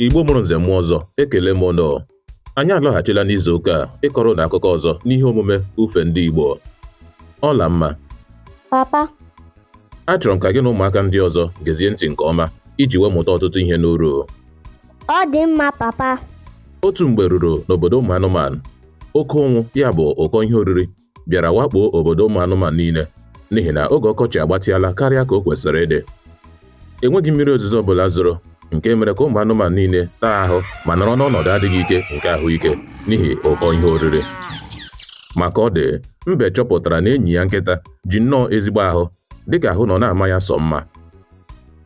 Igbo mụrụ nze mụọ ọzọ ekele m ụnụ anyị alọghachila n'izu ụka a ịkọrọ ụnụ akụkọ ọzọ n'ihe omume ufe ndị Igbo Ọlamma papa achọrọ m ka gị na ụmụaka ndị ọzọ gezie ntị nke ọma iji wee mụta ọtụtụ ihe n'uru ọ dị mma papa otu mgbe ruru n'obodo ụmụ anụmanụ oke ụnwụ ya bụ ụkọ ihe oriri bịara wakpoo obodo ụmụ anụmanụ niile n'ihi na oge ọkọchị agbatịala karịa ka o kwesịrị ịdị enweghị mmiri ozuzo ọbụla zoro nke mere ka ụmụ anụmanụ niile taa ahụ ma nọrọ n'ọnọdụ adịghị ike nke ahụike n'ihi ụkọ ihe oriri ma ka ọ dị mbe chọpụtara na enyi ya nkịta ji nnọọ ezigbo ahụ dịka ahụ nọ na-ama ya sọ mma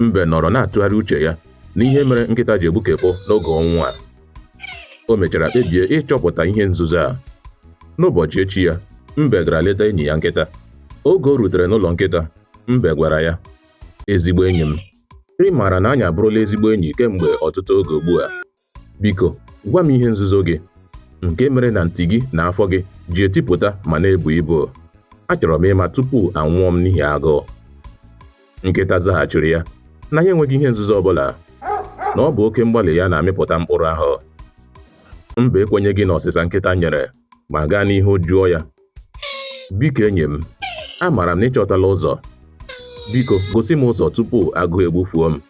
mbe nọrọ na-atụgharị uche ya n'ihe mere nkịta ji egbukepụ n'oge ụnwụ a O mechara kpebie ịchọpụta ihe nzuzo a. N'ụbọchị echi ya, Mbe gara leta enyi ya nkịta. Oge o rutere n'ụlọ nkịta, Mbe gwara ya, Ezigbo enyi m, ị maara na anyị abụrụla ezigbo enyi kemgbe ọtụtụ oge ugbu a. Biko, gwa m ihe nzuzo gị, nke mere na nti gị na afọ gị ji etipụta ma na-ebu ibu. Achọrọ m ịma tupu anwụọ m n'ihi agụụ. Nkịta zaghachiri ya na ya enweghị ihe nzuzo ọbụla, na ọ bụ oke mgbalị ya na-amịpụta mkpụrụ ahụ. Mbe ekwenyeghị n'ọsịsa nkịta nyere ma gaa n'ihu jụọ ya, Biko enyi m, amaara m na ị chọtala ụzọ. Biko gosi m ụzọ tupu agụụ egbufuo m.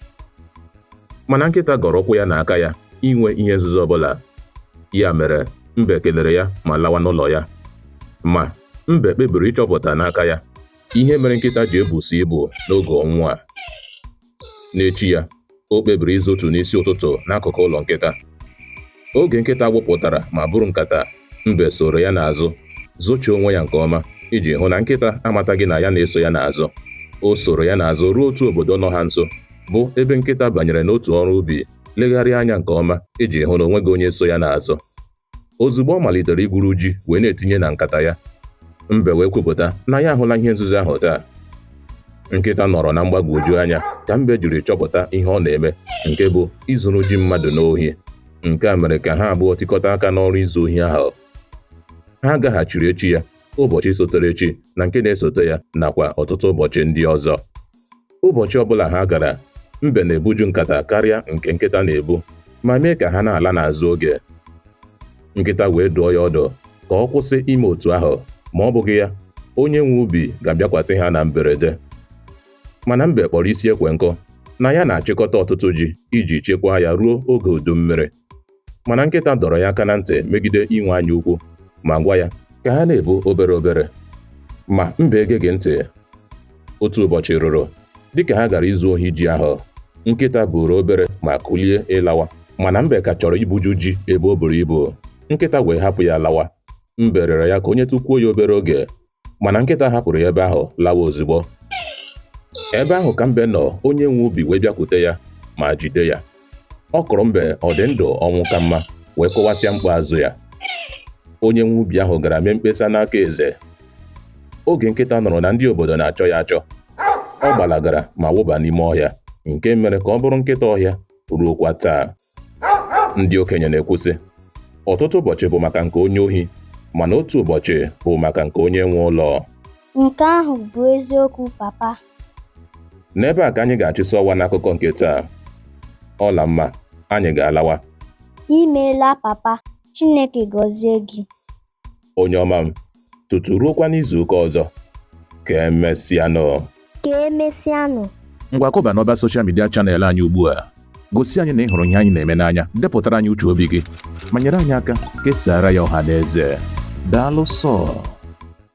Mana nkịta gọrọ ụkwụ ya na aka ya inwe ihe nzuzo ọbụla. Ya mere, mbe kelere ya ma lawa n'ụlọ ya. Ma, mbe kpebiri ịchọpụta n'aka ya Ihe mere nkịta ji ebusi ibu n'oge ụnwụ a. N'echi ya, o kpebiri izotu n'isi ụtụtụ n'akụkụ ụlọ nkịta. Oge nkịta gbapụtara ma buru nkata, mbe soro ya n'azụ, zochie onwe ya nke ọma iji hụ na nkịta amataghị na ya na-eso ya n'azụ. O soro ya n'azụ ruo otu obodo nọ ha nso, bụ ebe nkịta banyere n'otu ọrụ ubi, legharịa anya nke ọma iji hụ na o nweghị onye so ya n'azụ. ozugbo ọ malitere igwuru ji wee na-etinye na nkata ya mbe wee kwupụta na ya ahụla ihe nzuzo ahụ taa nkịta nọrọ na mgbagwoju anya ka mbe jiri chọpụta ihe ọ na-eme nke bụ izuru ji mmadụ n'ohi nke a mere ka ha abụọ tikọta aka n'ọrụ izu ohi ahụ ha gaghachiri echi ya ụbọchị sotere echi na nke na-esote ya nakwa ọtụtụ ụbọchị ndị ọzọ Ụbọchị ọbụla ha gara, mbe na-ebuju nkata karịa nke nkịta na-ebu ma mee ka ha na-ala n'azụ oge. Nkịta wee dụọ ya ọdụ ka ọ kwụsị ime otu ahụ, ma ọ bụghị ya, onye nwe ubi ga-abịakwasị ha na mberede. Mana mbe kpọrọ isi ekwe nkụ na ya na-achịkọta ọtụtụ ji iji chekwaa ya ruo oge udu mmiri. mana nkịta dọrọ ya aka na ntị megide inwe anya ukwu ma gwa ya ka ha na-ebu obere obere ma mbe egeghị ntị otu ụbọchị ruru dịka ha gara izu ohi ji ahụ nkịta buuru obere ma kulie ịlawa mana mbe ka chọrọ ibuju ji ebe o buru ibu nkịta wee hapụ ya lawa mbe rịọrọ ya ka o nyetụkwuo ya obere oge mana nkịta hapụrụ ya ebe ahụ lawa ozugbo ebe ahụ ka mbe nọ onye nwe ubi wee bịakwute ya ma jide ya ọ kụrụ mbe ọ dị ndụ ọnwụ ka mma wee kụwasịa mkpu azụ ya onye nwe ubi ahụ gara mee mkpesa n'aka eze oge nkịta nụrụ na ndị obodo na-achọ ya achọ ọ gbalagara ma wụba n'ime ọhịa nke mere ka ọ bụrụ nkịta ọhịa ruokwa taa ndị okenye na-ekwu sị ọtụtụ ụbọchị bụ maka nke onye ohi mana otu ụbọchị bụ maka nke onye nwe ụlọ nke ahụ bụ eziokwu papa n'ebe a ka anyị ga-achịsị ọwa n'akụkọ nke taa ọlamma anyị ga-alawa imeela papa chineke gọzie gị onye ọma m tutu ruokwa n'izu ụka ọzọ ka emesịanụ ka emesịanụ ngwa kụba n'ọba soshal midia chanel anyị ugbu a gosi anyị na ị hụrụ ihe anyị na-eme n'anya depụtara anyị uche obi gị ma nyere anyị aka kesaara ya ọha na eze daalụ sọọ